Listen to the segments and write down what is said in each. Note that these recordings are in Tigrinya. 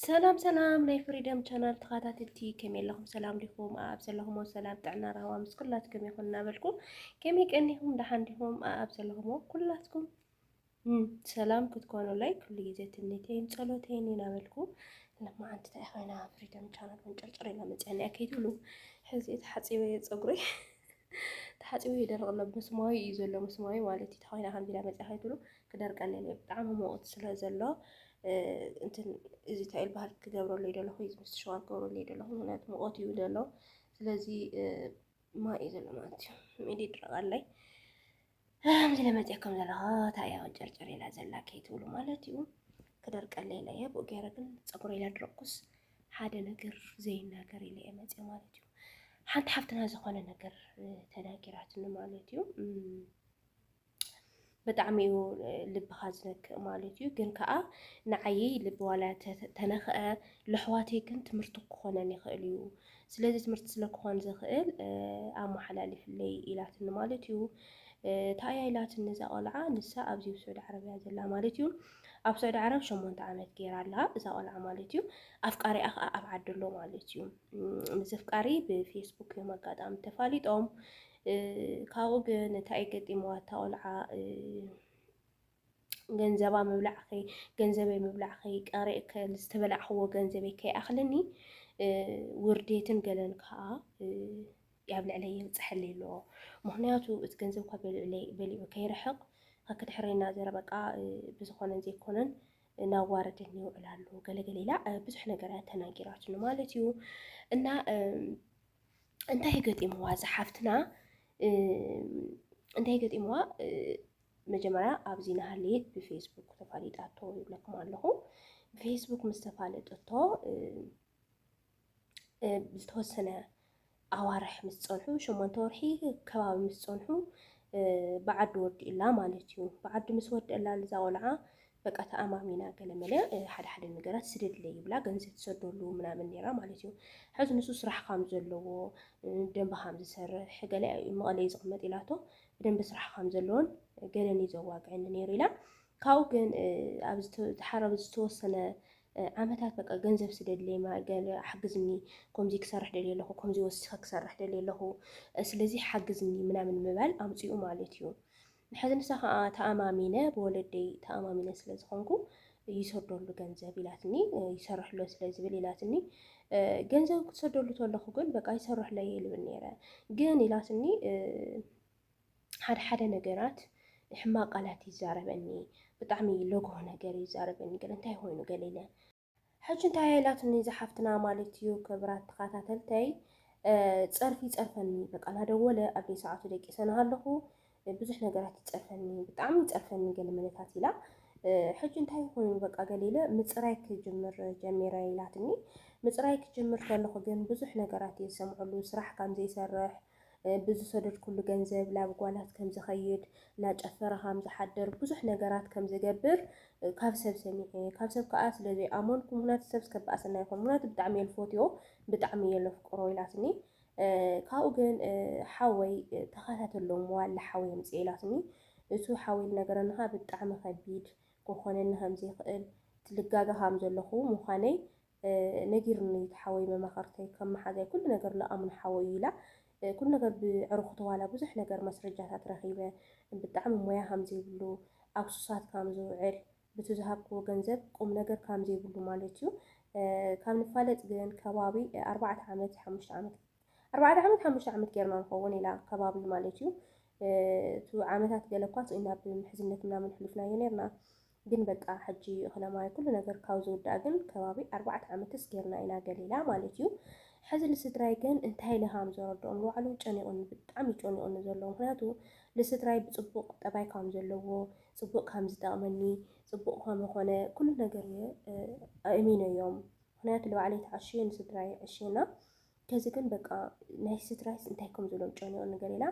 ሰላም ሰላም ናይ ፍሪደም ቻናል ተኸታተልቲ ከመይ ኣለኹም? ሰላም ዲኹም? ኣብ ዘለኹሞ ሰላም ጥዕና ራህዋ ምስ ኩላትኩም ይኹን እናበልኩ ከመይ ቀኒኹም? ደሓን ዲኹም? ኣብ ዘለኹሞ ኩላትኩም ሰላም ክትኮኑለይ ኩሉ ግዜ ትምኒተይን ጸሎተይን ይናበልኩ ልማዓንቲ እንታይ ኮይና ፍሪደም ቻናል መንጨርጨር ኢላ መፅያኒያ ከይትብሉ ሕዚ ተሓፂበ እየ ፀጉረይ ተሓፂቡ ይደርቕ ኣሎ ምስማዩ እዩ ዘሎ ምስማዩ ማለት እዩ ተኮይና ከምዚ ኢላ መፅያ ከይትብሉ ክደርቀኒ እየ ብጣዕሚ ሙቕት ስለ ዘሎ እንትን እዚ እንታይ በሃል ክገብረሉ እዩ ዘለኹ እዚ ምስ ሸዋር ክገብረሉ እዩ ዘለኹ ምክንያቱ ሙቐት እዩ ዘሎ ስለዚ ማይ እዩ ዘሎ ማለት እዩ ኢድ ይድረቕ ኣለይ ከምዚ ኢለ መፅየ ከም ዘለኹ እንታይ እያ ወንጨርጨር ኢላ ዘላ ከይትብሉ ማለት እዩ ክደርቀለይ ኢለ እየ ብኡ ገይረ ግን ፀጉረይ ኢለ ድረቅኩስ ሓደ ነገር ዘይናገር ኢለ እየ መፅየ ማለት እዩ ሓንቲ ሓፍትና ዝኾነ ነገር ተናጊራትኒ ማለት እዩ ብጣዕሚ እዩ ልብኻ ዝነክእ ማለት እዩ ግን ከዓ ንዓይ ልቢ ዋላ ተነክአ ለሕዋተይ ግን ትምህርቲ ክኾነን ይኽእል እዩ ስለዚ ትምህርቲ ስለ ክኾን ዝኽእል ኣመሓላሊፍለይ ኢላትኒ ማለት እዩ። እንታይ እያ ኢላትኒ እዛ ቆልዓ ንሳ ኣብዚ ስዑዲ ዓረብ እያ ዘላ ማለት እዩ። ኣብ ስዑዲ ዓረብ ሸሞንተ ዓመት ገይራ ኣላ እዛ ቆልዓ ማለት እዩ። ኣፍቃሪኣ ከዓ ኣብ ዓዲ ኣሎ ማለት እዩ። ምስ ኣፍቃሪ ብፌስቡክ እዮም ኣጋጣሚ ተፋሊጦም ካብኡ ግን እንታይ ገጢምዋ እታ ቆልዓ ገንዘባ ምብላዕኺ ገንዘበይ ምብላዕኺ ቀሪእ ዝተበላዕኽዎ ገንዘበይ ከይኣኽለኒ ውርዴትን ገለን ከዓ ኣብ ልዕለይ የብፅሐሊ ኣሎ ምክንያቱ እቲ ገንዘብካ በሊዑ ከይርሕቕ ከክድሕረና ዘረ በቃ ብዝኾነን ዘይኮነን ናዋረደኒ ይውዕል ኣሎ ገለገለ ኢላ ብዙሕ ነገር እያ ተናጊራትኒ ማለት እዩ እና እንታይ ገጢምዋ ዝሓፍትና እንታይ ገጢምዋ መጀመርያ ኣብዚ ናሃለየት ብፌስቡክ ተፋሊጣቶ ይብለኩም ኣለኹ። ብፌስቡክ ምስ ተፋለጠቶ ዝተወሰነ ኣዋርሕ ምስ ፀንሑ ሸሞንተ ወርሒ ከባቢ ምስ ፀንሑ ብዓዲ ወዲእላ ማለት እዩ። ብዓዲ ምስ ወደእላ ልዛ ቆልዓ በቃ ተኣማሚና ገለመለ ሓደ ሓደ ነገራት ስደድለ ይብላ ገንዘብ ትሰደሉ ምናምን ነራ ማለት እዩ። ሕዚ ንሱ ስራሕ ካም ዘለዎ ደንበ ካም ዝሰርሕ ገለ መቐለይ ዝቕመጥ ኢላቶ ብደንቢ ስራሕ ከም ዘለዎን ገለን እዩ ዘዋግዐኒ ነይሩ ኢላ። ካብኡ ግን ድሓር ኣብ ዝተወሰነ ዓመታት በቃ ገንዘብ ስደድለይ ገለ ሓግዝኒ ከምዚ ክሰርሕ ደልየ ኣለኹ ከምዚ ወሲኸ ክሰርሕ ደልየ ኣለኹ ስለዚ ሓግዝኒ ምናምን ምባል ኣምፅኡ ማለት እዩ። ንሕዚ ንሳ ከዓ ተኣማሚነ ብወለደይ ተኣማሚነ ስለ ዝኾንኩ ይሰደሉ ገንዘብ ኢላትኒ ይሰርሕሎ ስለ ዝብል ኢላትኒ ገንዘብ ክትሰደሉ ተለኹ ግን በቃ ይሰርሕሎ እየ ልብል ነይረ ግን ኢላትኒ ሓደ ሓደ ነገራት ሕማቅ ቃላት ይዛረበኒ ብጣዕሚ ለጎ ነገር ይዛረበኒ ገለ እንታይ ኮይኑ ገለ ኢለ ሕጂ እንታይ ኢላትኒ ዝሓፍትና ማለት እዩ ክብራት ተኸታተልተይ ፀርፊ ይፀርፈኒ በቃ እናደወለ ኣብ ሰዓቱ ደቂሰ ናሃለኹ ብዙሕ ነገራት ይጸርፈኒ ብጣዕሚ ይጸርፈኒ ገለ መለታት ኢላ ሕጂ እንታይ ይኹን በቃ ገለ ኢለ ምጽራይ ክጅምር ጀሚረ ኢላትኒ ምጽራይ ክጅምር ከለኹ ግን ብዙሕ ነገራት እየ ዝሰምዐሉ ስራሕ ከም ዘይሰርሕ ብዝሰደድኩሉ ገንዘብ ናብ ጓላት ከም ዝኸይድ እናጨፈረ ከም ዝሓድር ብዙሕ ነገራት ከም ዝገብር ካብ ሰብ ሰሚዐ ካብ ሰብ ከዓ ስለ ዘይኣመንኩ ምክንያቱ ሰብ ስከበኣሰና ይኹን ምክንያቱ ብጣዕሚ እየ ልፈትዮ ብጣዕሚ እየ ለፍቅሮ ኢላትኒ ካብኡ ግን ሓወይ ተኸታተሎ እሞ ኣላ ሓወይ ኣምጽኤ ኢላትኒ እቱ ሓወይ ልነገረኒ ከኣ ብጣዕሚ ከቢድ ክኾነኒ ከም ዘይክእል ልጋገ ከም ዘለኹ ምዃነይ ነጊሩኒ እዩ እቲ ሓወይ መማኸርተይ ከም መሓዛይ ኩሉ ነገር ልኣምኖ ሓወይ እዩ ኢላ ኩሉ ነገር ብዕሩኽቱ ዋላ ብዙሕ ነገር መስረጃታት ረኺበ ብጣዕሚ ሞያ ከም ዘይብሉ ኣብ ሱሳት ከም ዝውዕል ብቱ ዝሃብክዎ ገንዘብ ቁምነገር ካም ዘይብሉ ማለት እዩ ካብ ንፋለጥ ግን ከባቢ ኣርባዕተ ዓመት ሓሙሽተ ዓመት ኣርባዕተ ዓመት ሓሙሽተ ዓመት ጌርና ንኸውን ኢላ ከባቢ ማለት እዩ እቲ ዓመታት ገለ እኳ ስኢና ብምሕዝነት ምናምን ሕሊፍናዮ ነርና ግን በቃ ሕጂ እኽለማይ ኩሉ ነገር ካብ ዝውዳእ ግን ከባቢ ኣርባዕተ ዓመትስ ጌርና ኢና ገሊላ ማለት እዩ ሕዚ ንስድራይ ግን እንታይ ኢለ ከም ዘረድኦም ንባዕሉ ጨኒቑኒ ብጣዕሚ ጨኒቑኒ ዘለዎ ምክንያቱ ንስድራይ ብፅቡቕ ጠባይ ከም ዘለዎ ፅቡቅ ካም ዝጠቅመኒ ፅቡቅ ካም ኾነ ኩሉ ነገር እየ ኣእሚነዮም ምክንያቱ ንባዕለይ ተዓሽየ ንስድራይ ኣዕሽየ እና ከዚ ግን በቃ ናይ ስድራይስ እንታይ ከም ዝብሎም ጨኒቁኒ ገሊላ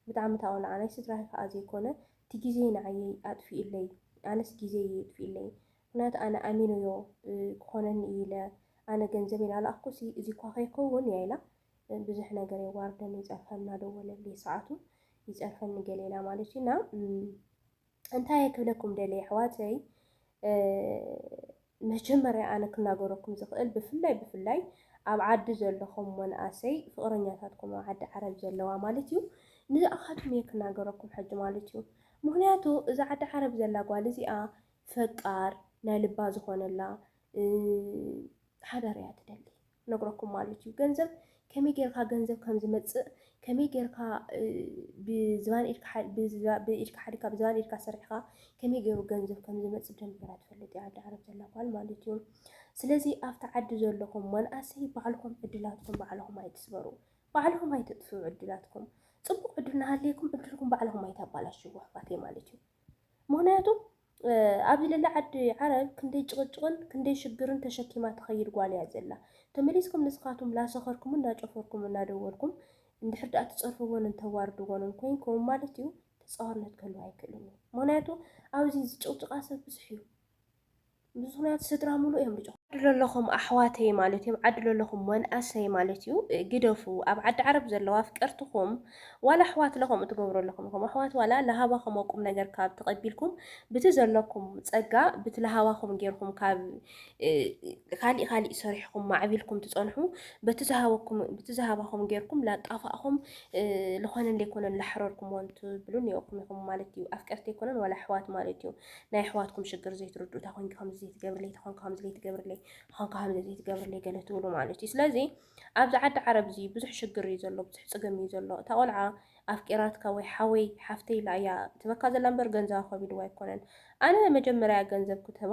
ብጣዕሚ ታቆልዓ ናይ ስድራይ ከዓ ዘይኮነ እቲ ግዜ ንዓየይ ኣጥፊኡለይ ኣነስ ግዜ እየ የጥፊኡለይ ምክንያቱ ኣነ ኣሚነዮ ክኾነኒ እየ ኢለ ኣነ ገንዘበይ ናላኣክኩሲ እዚ እኳ ከይከውን እያ ኢላ ብዙሕ ነገር የዋርደኒ ይፀርፈኒ እናደወለልይ ሰዓቱ ይፀርፈኒ ገለ ኢላ ማለት እዩ እና እንታይ ክብለኩም ደለ ኣሕዋተይ መጀመርያ ኣነ ክናገረኩም ዝኽእል ብፍላይ ብፍላይ ኣብ ዓዲ ዘለኹም መናእሰይ ፍቕረኛታትኩም ኣብ ዓዲ ዓረብ ዘለዋ ማለት እዩ ንዝኣኻትኩም እየ ክናገረኩም ሕጂ ማለት እዩ ምክንያቱ እዛ ዓዲ ዓረብ ዘላ ጓል እዚኣ ፈቃር ናይ ልባ ዝኾነላ ሓዳር እያ ትደሊ ክነግረኩም ማለት እዩ ገንዘብ ከመይ ጌርካ ገንዘብ ከም ዝመጽእ ከመይ ጌርካ ብዝባን ኢድካ ብኢድካ ሓዲካ ብዝባን ኢድካ ሰሪሕካ ከመይ ገይሩ ገንዘብ ከም ዝመጽእ ብደንብ ገይራ ትፈልጥ እያ ዓዲ ዓረብ ዘላ ጓል ማለት እዩ። ስለዚ ኣብቲ ዓዲ ዘለኹም መናእሰይ ባዕልኹም ዕድላትኩም ባዕልኹም ኣይትስበሩ፣ ባዕልኹም ኣይተጥፍኡ ዕድላትኩም። ጽቡቕ ዕድል እናሃለየኩም ዕድልኩም ባዕልኹም ኣይታባላሽው ኣሕዋተይ ማለት እዩ። ምክንያቱ ኣብዚ ልዕሊ ዓዲ ዓረብ ክንደይ ጭቕጭቕን ክንደይ ሽግርን ተሸኪማ ትኸይድ ጓል እያ ዘላ። ተመሊስኩም ንስኻትኩም ላሰኸርኩምን ላጨፈርኩምን ናደወልኩም እንድሕር ድኣ ትጸርፍዎንን ተዋርድዎንን ኮይንኩም ማለት እዩ ተጻዋርነት ክህልው ኣይክእልን እዩ። ምክንያቱ ኣብዚ ዝጭቕጭቓ ሰብ ብዙሕ እዩ። ብዙ ምክንያቱ ስድራ ሙሉእ እዮም ድጭቕጭቑ። ዓዲ ለለኹም ኣሕዋተይ ማለት እዮም ዓዲ ለለኹም መንኣሰይ ማለት እዩ ግደፉ ኣብ ዓዲ ዓረብ ዘለዋ ኣፍቀርትኹም ዋላ ኣሕዋትለ ከምኡ ትገብሩ ኣለኹም ኢኹም ኣሕዋት ዋላ ለሃባኹም ቁም ነገር ካብ ተቐቢልኩም ብቲ ዘለኩም ጸጋ ብቲ ለሃባኹም ጌርኩም ካብ ካሊእ ካሊእ ሰሪሕኩም ማዕቢልኩም ትጸንሑ በቲ ዝሃበኩም ብቲ ዝሃባኹም ጌርኩም ላጣፋእኹም ዝኾነን ዘይኮነን ላሕረርኩምዎን ትብሉን ኔርኩም ኢኹም ማለት እዩ ኣፍቀርቲ ኣይኮነን ዋላ ኣሕዋት ማለት እዩ ናይ ኣሕዋትኩም ሽግር ዘይትርድኡ እታ ኮንኪ ከምዚ ዘይትገብርለይ እታ ኮንኪ ከምዚ ዘይትገብርለይ ኮንካ ከምዚ ዘይትገብርለይ ገለ ትብሉ ማለት እዩ ስለዚ ኣብዚ ዓዲ ዓረብ እዚ ብዙሕ ሽግር እዩ ዘሎ ብዙሕ ፅገም እዩ ዘሎ እታ ቆልዓ ኣፍቂራትካ ወይ ሓወይ ሓፍተይ ኢላ እያ ትበካ ዘላ እምበር ገንዘብ ኣኸቢድዋ ኣይኮነን ኣነ መጀመርያ ገንዘብ ክትህባ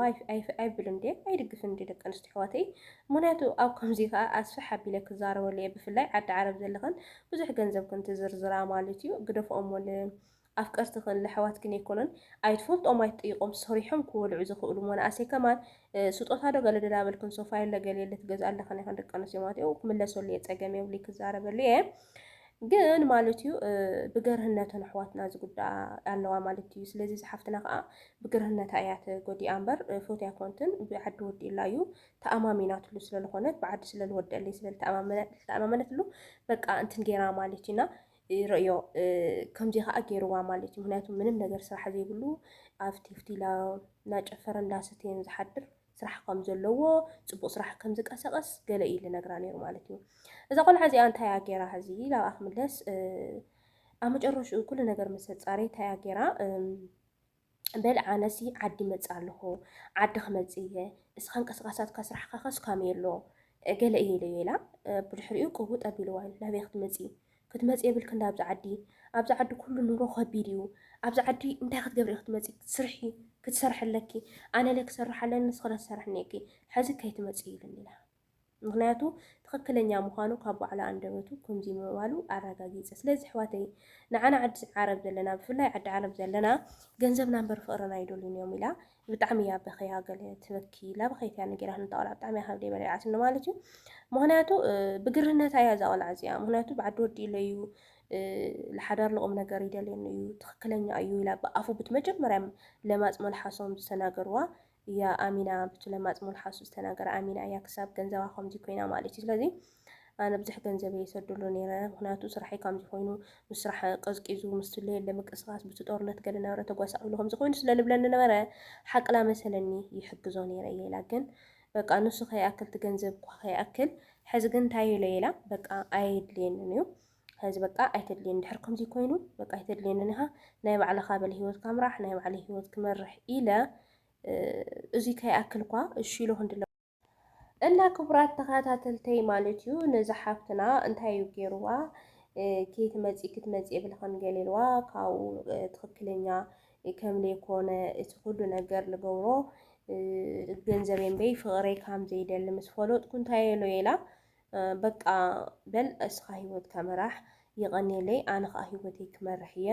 ኣይብልን ድ ኣይድግፍን ድ ደቂ ኣንስትዮ ኣሕዋተይ ምክንያቱ ኣብ ከምዚ ከዓ ኣስፍሕ ኣቢለ ክዛረበሉ እየ ብፍላይ ዓዲ ዓረብ ዘለኽን ብዙሕ ገንዘብ ክንትዝርዝራ ማለት እዩ ግደፍኦሞ ኣፍቀርቲ ክን ኣሕዋት ክን ኣይኮኑን ኣይትፈልጦም ኣይትጠይቆም ሰሪሖም ክወልዑ ዝክእሉ ሞናእሰይ ከማን ስጦታ ዶ ገለ ዶ ዳበልክን ሶፋየለ ገሌለ ትገዝኣለክን ኢክን ደቂ ኣንስትዮ ማለት እዩ ክምለሰሉ እየ ጸገም የብሉይ ክዛረበሉ እየ ግን ማለት እዩ ብገርህነተን ኣሕዋትና ዝጉዳኣ ኣለዋ ማለት እዩ ስለዚ ዝሓፍትና ከዓ ብግርህነታ እያ ተጎዲኣ እምበር ፎትያ ኮንትን ብዓዲ ወዲእላ እዩ ተኣማሚናትሉ ስለዝኾነት ብዓዲ ስለዝወደለይ ስለዝተኣማመነትሉ በቃ እንትን ጌራ ማለት እዩና ርእዮ ከምዚ ከዓ ገይርዋ ማለት እዩ። ምክንያቱ ምንም ነገር ስራሕ ዘይብሉ ኣብ ቴፍቲላ እናጨፈረ እንዳሰተየን ዝሓድር ስራሕ ከም ዘለዎ ፅቡቅ ስራሕ ከም ዝቀሰቀስ ገለ እዩ ልነግራ ነይሩ ማለት እዩ። እዛ ቆልዓ እዚኣ እንታይ እያ ገይራ ሕዚ ናብኣ ክምለስ ኣብ መጨረሽኡ ኩሉ ነገር ምስ ኣፃረየ እንታይ እያ ገይራ በል ኣነሲ ዓዲ ይመጽእ ኣለኹ ዓዲ ክመጽእ እየ እስኻ እንቅስቃሳትካ ስራሕካ ከስ ካመይ ኣሎ ገለ እየ ኢለዮ ኢላ ብድሕሪኡ ቅውጥ ኣቢልዋ እዩ ናበይ ክትመጺ ክትመጺ የብልክ እንዳ ኣብዚ ዓዲ ኣብዚ ዓዲ ኩሉ ኑሮ ከቢድ እዩ ኣብዚ ዓዲ እንታይ ክትገብሪ ክትመጺ ስርሒ ክትሰርሐለኪ ኣነለ ክሰርሕ ኣለኒ ንስክለ ትሰርሕኒ እኪ ሕዚ ከይትመጺ ኢሉኒ ኢላ ምኽንያቱ ትኽክለኛ ምዃኑ ካብ ባዕሉ ኣንደበቱ ከምዙይ ምባሉ ኣራጋጊፀ ስለዚ ኣሕዋተይ ንዓና ዓዲ ዓረብ ዘለና ብፍላይ ዓዲ ዓረብ ዘለና ገንዘብና እምበር ፍቅርና ኣይደልዩን እዮም ኢላ ብጣዕሚ እያ በኽያ ገለ ትበኪ ኢላ በኸይት እያ ነጊራ ንታ ቆልዓ ብጣዕሚ እያ ካብ ደይ በሊዓትኒ ማለት እዩ ምኽንያቱ ብግርህነታ እያ እዛ ቆልዓ እዚኣ ምኽንያቱ ብዓዲ ወዲ ኢለ እዩ ለሓዳር ልቑም ነገር ይደልየኒ እዩ ትኽክለኛ እዩ ኢላ ብኣፉ ብትመጀመርያ ለማፅ መልሓሶም ዝተናገርዋ እያ ኣሚና ብቲ ለማጽ ሞልሓሱ ዝተናገረ ኣሚና እያ ክሳብ ገንዘባ ከምዚ ኮይና ማለት እዩ ስለዚ ኣነ ብዙሕ ገንዘብ እየ ሰድሉ ነይረ ምክንያቱ ስራሐይ ከምዚ ኮይኑ ምስ ስራሕ ቀዝቂዙ ምስ ስለየለ ምቅስቃስ ብቲ ጦርነት ገለ ናብረ ተጓሳቂሉ ከምዚ ኮይኑ ስለ ልብለኒ ነበረ ሓቅላ መሰለኒ ይሕግዞ ነይረ እየ ኢላ ግን በቃ ንሱ ከይኣክል እቲ ገንዘብ እኳ ከይኣክል ሕዚ ግን እንታይ ኢለ ኢላ በቃ ኣየድልየንን እዩ ሐዚ በቃ ኣይተድልየኒ ድሕር ከምዙይ ኮይኑ በቃ ኣይተድልየንን ኢኻ ናይ ባዕልኻ በለ ሂወትካ ምራሕ ናይ ባዕለይ ሂወት ክመርሕ ኢለ እዙይ ከይኣክልኳ እሺ ኢሎ ክንድለ እና ክቡራት ተኸታተልተይ ማለት እዩ ነዚ ሓፍትና እንታይ እዩ ገይርዋ ከይትመፂ ክትመፂ የብልኻን ገሊልዋ ካብኡ ትኽክለኛ ከም ዘይኮነ እቲ ኩሉ ነገር ልገብሮ ገንዘበይ እምበይ ፍቕረይ ከም ዘይደሊ ምስ ፈለጥኩ እንታይ ኢሎ ኢላ በቃ በል እስኻ ሂወትካ ምራሕ። የቐኔለይ ኣነ ኸኣ ሂወተይ ክመርሕ እየ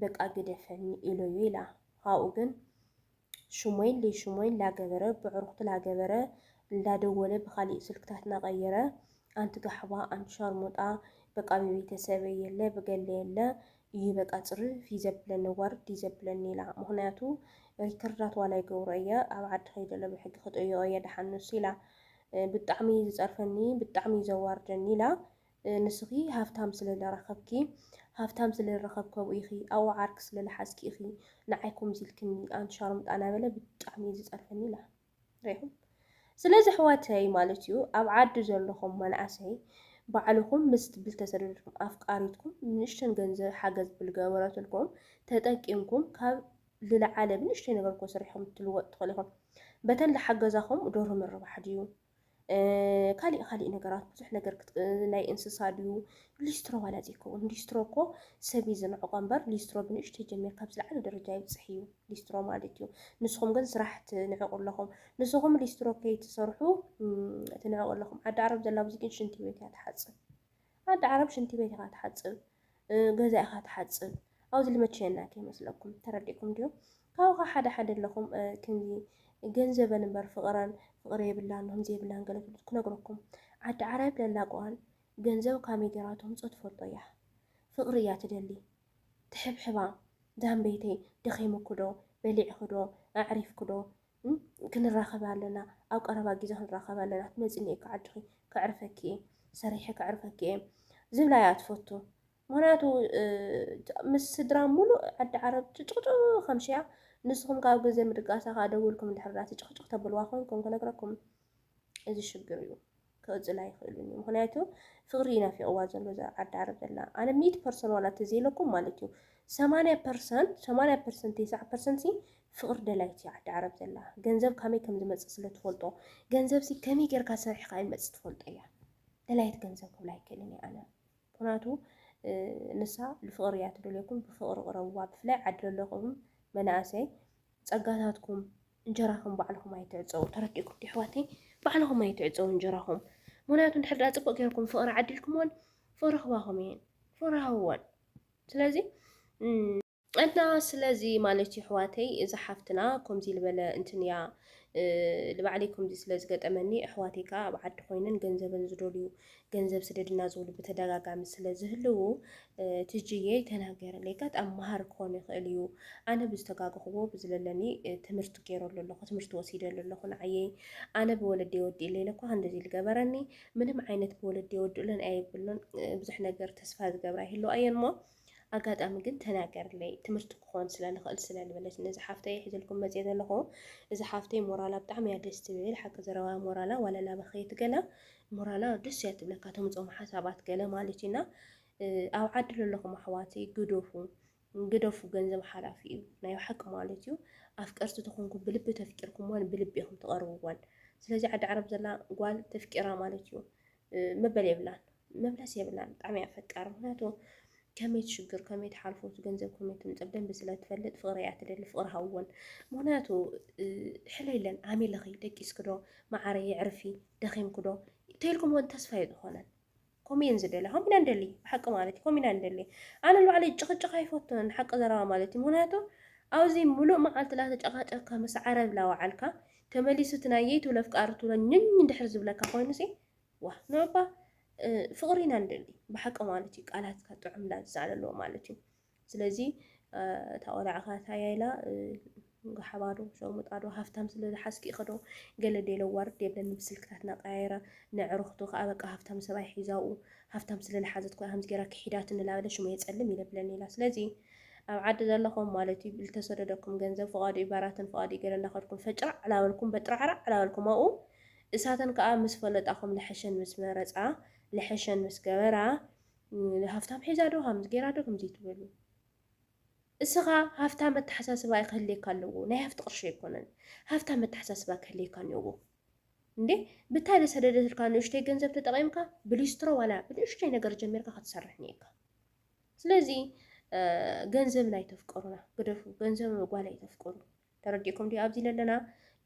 በቃ ግደፈኒ ኢሎ'ዩ ኢላ። ኻብኡ ግን ሽሞይን ለይሽሞይን ላገበረ ብዕሩኽቱ ላገበረ ላደወለ ብኻሊእ ስልክታት ናቐየረ ኣንቲ ጋሕባ ኣንቲ ሻርሙጣ በቃ ብቤተሰበይ የለ ብገለ የለ እዩ በቃ ጽርፍ እዩ ዘብለኒ ዋርድ እዩ ዘብለኒ ኢላ። ምኽንያቱ ሪከርዳት ዋላ ይገብሮ እየ ኣብ ዓዲ ከይደ ለብሕጊ ክጥይቖ እየ ደሓን ንሱ ኢላ። ብጣዕሚ እዩ ዝጸርፈኒ ብጣዕሚ እዩ ዘዋርደኒ ኢላ ንስኺ ሃፍታም ስለ ዝረኸብኪ ሃፍታም ስለ ዝረኸብከቡ ኢኺ ኣብኡ ዓርኪ ስለ ዝሓዝኪ ኢኺ ንዓይ ከምዚ ኢልክኒ ኣንቲ ሻርሙጣ እናበለ ብጣዕሚ እዩ ዝጸርፈኒ ኢላ ሪኢኹም ስለዚ ኣሕዋተይ ማለት እዩ ኣብ ዓዲ ዘለኹም መናእሰይ ባዕልኹም ምስ ትብል ተሰደድኩም ኣፍቃሪትኩም ንእሽተን ገንዘብ ሓገዝ ብዝገበረትልኩም ተጠቂምኩም ካብ ልለዓለ ብንእሽተይ ነገር እኮ ሰሪሖም ክትልወጡ ትኽእሉ ኢኹም። በተን ልሓገዛኹም ዶርሆ ምርባሕ ድዩ ካሊእ ካሊእ ነገራት ብዙሕ ነገር ናይ እንስሳ ድዩ ሊስትሮ ዋላ ዘይከውን ሊስትሮ እኮ ሰብ እዩ ዝንዕቆ እምበር ሊስትሮ ብንእሽተይ ጀሚርካ ኣብ ዝለዓለ ደረጃ ይብፅሕ እዩ ሊስትሮ ማለት እዩ። ንስኹም ግን ስራሕ ትንዕቁ ኣለኹም። ንስኹም ሊስትሮ ከይትሰርሑ ትንዕቁ ኣለኹም። ዓዲ ዓረብ ዘላ ብዙ ግን ሽንቲ ቤት እያ ትሓፅብ። ዓዲ ዓረብ ሽንቲ ቤት ኢኻ ትሓጽብ ገዛ ኢኻ ትሓጽብ ኣብዚ ልመቸየና ከይመስለኩም ተረዲእኩም ድዩ ካብኻ ሓደ ሓደ ኣለኹም ክንዚ ገንዘበን እምበር ፍቕረን ፍቕሪ የብላን ከምዚ የብላን ገለ ትብሉ ክነግረኩም ዓዲ ዓረብ ለላቋን ገንዘብ ካመይ ጌራ ተምጾ ትፈልጦ እያ ፍቕሪ እያ ትደሊ ትሕብሕባ ዛምበይተይ ደኺምኩዶ በሊዕክዶ ኣዕሪፍክዶ ክንራኸብ ኣለና፣ ኣብ ቀረባ ግዜ ክንራኸብ ኣለና፣ ክትመፅኒ እየ ክዓድኺ፣ ከዕርፈኪ እየ፣ ሰሪሐ ከዕርፈኪ እየ ዝብላ እያ ትፈቱ። ምክንያቱ ምስ ስድራ ሙሉእ ዓዲ ዓረብ ጭጭቕጭ ከምሽያ ንስኹም ካብ ግዜ ምድቃሳ ከዓ ደውልኩም ድሕርዳ ትጭቕጭቕ ተብልዋ ኮንኩም ክነግረኩም እዚ ሽግር እዩ ክቕፅል ኣይኽእሉን እዩ ምክንያቱ ፍቕሪ ይናፊቕዋ ዘሎ እዛ ዓዲ ዓረብ ዘላ ኣነ ሚእቲ ፐርሰንት ዋላ ተዘይለኩም ማለት እዩ ሰማንያ ፐርሰንት ሰማንያ ፐርሰንት ተስዓ ፐርሰንት ሲ ፍቕሪ ደላይቲ እዩ ዓዲ ዓረብ ዘላ ገንዘብ ካመይ ከም ዝመፅእ ስለ ትፈልጦ ገንዘብ ሲ ከመይ ጌርካ ሰሪሕካ ይመፅእ ትፈልጦ እያ ደላይት ገንዘብ ክብላ ኣይክእልን እየ ኣነ ምክንያቱ ንሳ ብፍቕሪ እያ ትደልየኩም ብፍቕሪ ቅረብዋ ብፍላይ ዓዲ ዘለኹም መናእሰይ ፀጋታትኩም እንጀራኹም ባዕልኹም ኣይትዕፀዉ ተረዲእኩም ዶ ኣሕዋተይ ባዕልኹም ኣይትዕፀዉ እንጀራኹም ምክንያቱ እንድሕር ድኣ ፅቡቅ ጌርኩም ፍቅሪ ዓዲልኩምወን ፍቅሪ ክባኹም እየን ፍቅሪ ሃብወን ስለዚ እና ስለዚ ማለት እዩ ኣሕዋተይ እዚ ሓፍትና ከምዚ ዝበለ እንትን እያ ንባዕለይ ከምዚ ስለ ዝገጠመኒ ኣሕዋተይ ከዓ ኣብ ዓዲ ኮይነን ገንዘበን ዝደልዩ ገንዘብ ስደድና ዝብሉ ብተደጋጋሚ ስለ ዝህልዉ ትጅየ ተናገረለይ ጋጣም መሃር ክኾን ይኽእል እዩ ኣነ ብዝተጋገኽዎ ብዝለለኒ ትምህርቲ ገይረሉ ኣለኹ ትምህርቲ ወሲደሉ ኣለኹ ንዓየይ ኣነ ብወለዲ ወዲ ኢለ እኳ እንደዚ ዝገበረኒ ምንም ዓይነት ብወለዲ ወዲ ኢለን ኣይብሉን ብዙሕ ነገር ተስፋ ዝገብራ ይህልዋ እየን እሞ ኣጋጣሚ ግን ተናገርለይ ትምህርቲ ክኾን ስለ ልኽእል ስለ ልበለት ነዚ ሓፍተይ እየ ሒዘልኩም መፅየ ዘለኹ እዚ ሓፍተይ ሞራላ ብጣዕሚ እያ ደስ ትብል ሓቂ ዘረባ ሞራላ ዋላ እናበኸየት ገላ ሞራላ ደስ እያ ትብለካ ተምፅኦም ሓሳባት ገለ ማለት እዩና ኣብ ዓዲ ዘለኹም ኣሕዋተይ ግደፉ ግደፉ ገንዘብ ሓላፊ እዩ ናይ ሓቂ ማለት እዩ ኣፍቀርቲ ተኾንኩ ብልቢ ተፍቂርኩምዋን ብልቢ ኢኹም ትቐርብዋን ስለዚ ዓዲ ዓረብ ዘላ ጓል ተፍቂራ ማለት እዩ መበል የብላን መብለስ የብላን ብጣዕሚ እያ ፈቃር ምክንያቱ ከመይ ትሽግር ከመይ ትሓልፎ እቲ ገንዘብ ከመይ ትምፅእ ብደንቢ ስለ ትፈልጥ ፍቕሪ እያ ትደሊ ፍቕሪ ሃወን ምክንያቱ ሕለይለን ዓሚልኺ ደቂስክዶ መዓረ የዕርፊ ደኺምክዶ ተይልኩም እውን ተስፋ እዩ ዝኾነን ከምኡ እየን ዝደልያ ከምኡ ኢና ንደሊ ብሓቂ ማለት እዩ ከምኡ ኢና ንደሊ ኣነ ንባዕለይ ጭቕጭቕ ኣይፈቱን ሓቂ ዘረባ ማለት እዩ ምክንያቱ ኣብዚ ሙሉእ መዓልቲ ላተጨቓጨካ ምስ ዓረብ ላወዓልካ ተመሊሱ እቲ ናይ የይቱ ለፍቃሪ ትብሎ ኝኝ እንድሕር ዝብለካ ኮይኑሲ ዋእ ንዑባ ፍቅሪ ኢና ንደሊ ብሓቂ ማለት እዩ ቃላትካ ጥዑም ላዛ ኣለዎ ማለት እዩ ስለዚ እታ ቆልዓ ከ ታያ ኢላ ገሓባ ዶ ሸርሙጣ ዶ ሃፍታም ስለ ዝሓዝኪ ኢኺ ዶ ገለ ዴለ ዋርድ የብለኒ ብስልክታትና ቀያይራ ንዕርኽቱ ከዓ በቃ ሃፍታም ሰብኣይ ሒዛኡ ሃፍታም ስለ ዝሓዘት ኮይና ከምዚ ጌራ ክሒዳት እንላበለ ሽሙ የፀልም ይለብለኒ ኢላ ስለዚ ኣብ ዓዲ ዘለኹም ማለት እዩ ልተሰደደኩም ገንዘብ ፍቓዱ እዩ ባራትን ፍቓዱ እዩ ገለ እናኸድኩም ፈጭራዕ ላበልኩም በጥራዕራዕ ላበልኩም ኣብኡ እሳተን ከኣ ምስ ፈለጣኹም ልሐሸን ምስ መረጻ ልሐሸን ምስ ገበራ ሃፍታም ሒዛ ዶ ከምዚ ገይራ ዶ ከምዚ ትበሉ እስኻ ሃፍታም ኣተሓሳስባ እዩ ክህልየካ ኣለዎ ናይ ሃፍቲ ቅርሺ ኣይኮነን ሃፍታም ኣተሓሳስባ ክህልየካ እኒኦዎ እንዴ ብታይ ልሰደደትልካ ንእሽተይ ገንዘብ ተጠቒምካ ብሊስትሮ ዋላ ብንእሽተይ ነገር ጀሚርካ ክትሰርሕ እኒኤካ ስለዚ ገንዘብን ኣይተፍቅሩና ግደፉ ገንዘብ ጓል ኣይተፍቅሩ ተረዲእኩም ዲዩ ኣብዚ ለለና